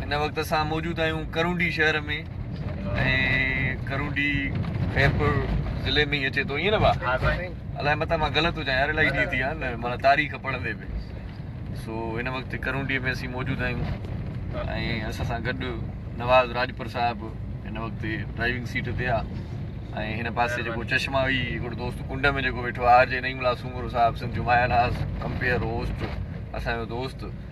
هن وقت اسان موجود آهيون ڪرونڊي شهر ۾ ۽ ڪرونڊي خيرپور ضلعي ۾ ئي اچي ٿو ائين نه بابا ها سائين الائي متان مان غلط هجان يار الائي ڏينهن ٿي ويا آهن مانا تاريخ پڙهندي به سو هن وقت ڪرونڊي ۾ اسين موجود آهيون ۽ اسان سان گڏ نواز راجپر صاحب هن وقت ڊرائيونگ سيٽ تي آهي ۽ هن پاسي جيڪو چشما هئي هڪڙو دوست ڪنڊ ۾ جيڪو ويٺو آهي آر جي نعيم الله سومرو صاحب سنڌ جو ماهر هاس ڪمپيئر هوسٽ اسانجو دوست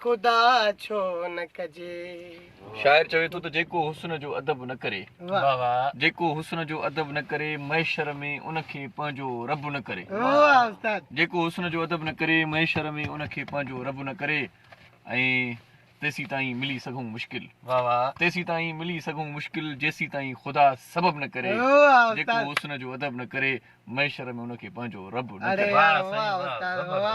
خدا ڇو نه ڪجي. شاعر چوي ٿو ته جيڪو حسن جو ادب نه ڪري. واھ واھ. جيڪو حسن جو ادب نه ڪري محشر ۾ ان کي پنهنجو رب نه ڪري. واھ استاد. جيڪو حسن جو ادب نه ڪري محشر ۾ ان کي پنهنجو رب نه ڪري ۽ تيسين تائين ملي سگهون مشڪل. واھ واھ. تيسين تائين ملي سگهون مشڪل جيسين تائين خدا سبب نه ڪري. واھ استاد. جيڪو حسن جو ادب نه ڪري محشر ۾ ان کي پنهنجو رب نه ڪري. اڙي يار واھ استاد واھ.